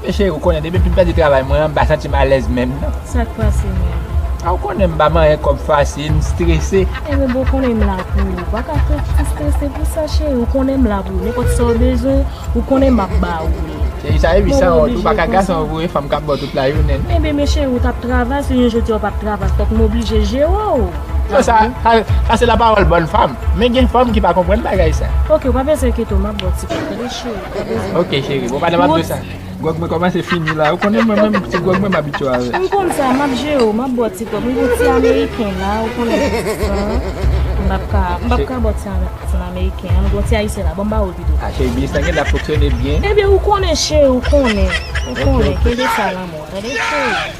Ebyen cheri ou konnen depi m pèdi travay mwen an m pa santi m alèz menm nan. Sa k pase menm? A ou konnen m pa manyen kòb fasil, m strese. Ebyen boo ou konnen m la pou ou. Ou pa ka fè m strese pou sa cheri. Ou konnen m la pou ou nenpòt sa ou bezwen. Ou konnen map ba ou li. Se li sa epi san wont ou paka gason ou voye fanm kap baw tout la jounen. Enben men cheri ou tap travay si yon jodi a ou pap travay fòk m oblije jere w. Bon sa sa se la pawòl bòn fanm men gen fanm ki pa konprann bagay sa. Ok ou pa bezwen enkyete w map baw ti pòt tande cheri. Ok cheri bon pandan map do sa. Gwòg mwen kòmanse fini la. Ou konnen mwen menm ti gwòg mwen m abitye avè l. M konn sa, m ap jere w, m ap ba w ti kòb. M gon ti ameriken la, ou konnen m pap ka, m pap ka ba w ti ameriken an. M gon ti ayisyen la, ban m ba w l pito. A cheri, biznis lan gen lè ap fonksyone byen. Ebyen ou konnen cheri, ou konnen. Ou konnen, kenbe sa lanmou an, tande cheri.